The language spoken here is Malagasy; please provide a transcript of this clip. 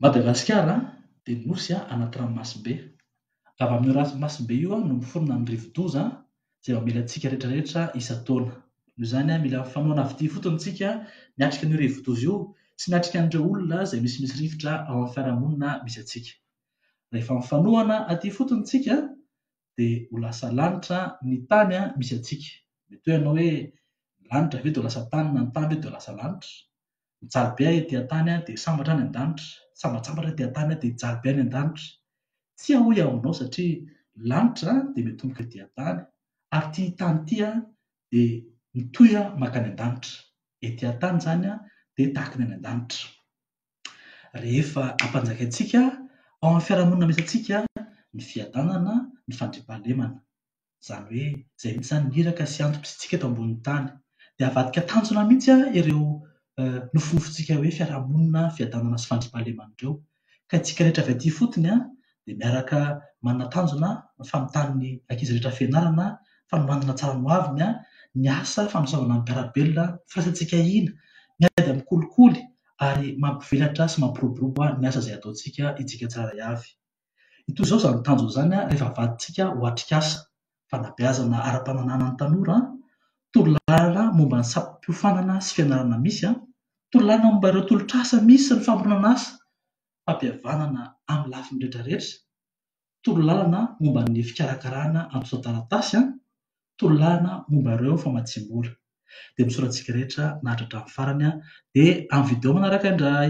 Madagasikara dia nosy anaty ranomasimbe. Avy amin'io ranomasimbe io no miforona ny rivodoza izay mamely antsika rehetra rehetra isan-taona. Noho izany, mila fanohanana avy aty ifotony isika miatrika an'io rivodoza io sy miatrika an'ireo olona izay misimisy rivotra ao amin'ny fiarahamonina misy antsika. Rehefa mifanohana aty ifotony isika dia ho lasa lanitra ny tany misy antsika. Mety hoe ianao hoe, ny lanitra ve dia ho lasa tany na ny tany ve dia ho lasa lanitra? Mijaly be aho ety an-tany dia sambatra any an-danitra. Sambatsambatra aho ety an-tany dia hijaly be any an-danitra. Tsia hoy aho aminao satria ny lanitra dia miatomboka ety an-tany ary ity tany ity dia mitohy mankany an-danitra. Ety an-tany izany dia tahaka ny any an-danitra. rehefa ampanjakaintsika ao amin'ny fiarahamonina misy antsika ny fiadanana, ny fandriampahalemana. Izany hoe izay mihitsy izany ny iraka sy antoko misy antsika eto ambonin'ny tany. Dia avadika tanjona mihitsy ireo nofinofintsika hoe fiarahamonina, fiadanana sy fandriampahalemana ireo. Ka isika rehetra avy aty ifotony dia miaraka manana tanjona ny fanotan'ny ankizy rehetra fianarana, fanomanana tsara ny ho aviny, ny asa fanosavana ny mpiara-belona, firaisantsika hina, miady amin'ny kolikoly ary mampivelatra sy mampiroborobo ny asa izay ataontsika isika tsirairay avy. Hitohy izao izany tanjona izany rehefa avadintsika ho atrikasa, fanabeazana ara-pananahana ny tanora, torolalana momba ny sampiofanana sy fianarana misy, torolalana momba ireo tolotr'asa misy sy ny famoronana asa, fampihavanana amin'ny lafiny rehetrarehetra, torolalana momba ny fikarakarana antontan-taratasy, torolalana momba ireo famatsiam-bola. Dia misaotra antsika rehetra naharitra hatramin'ny farany dia amin'ny video manaraka indray.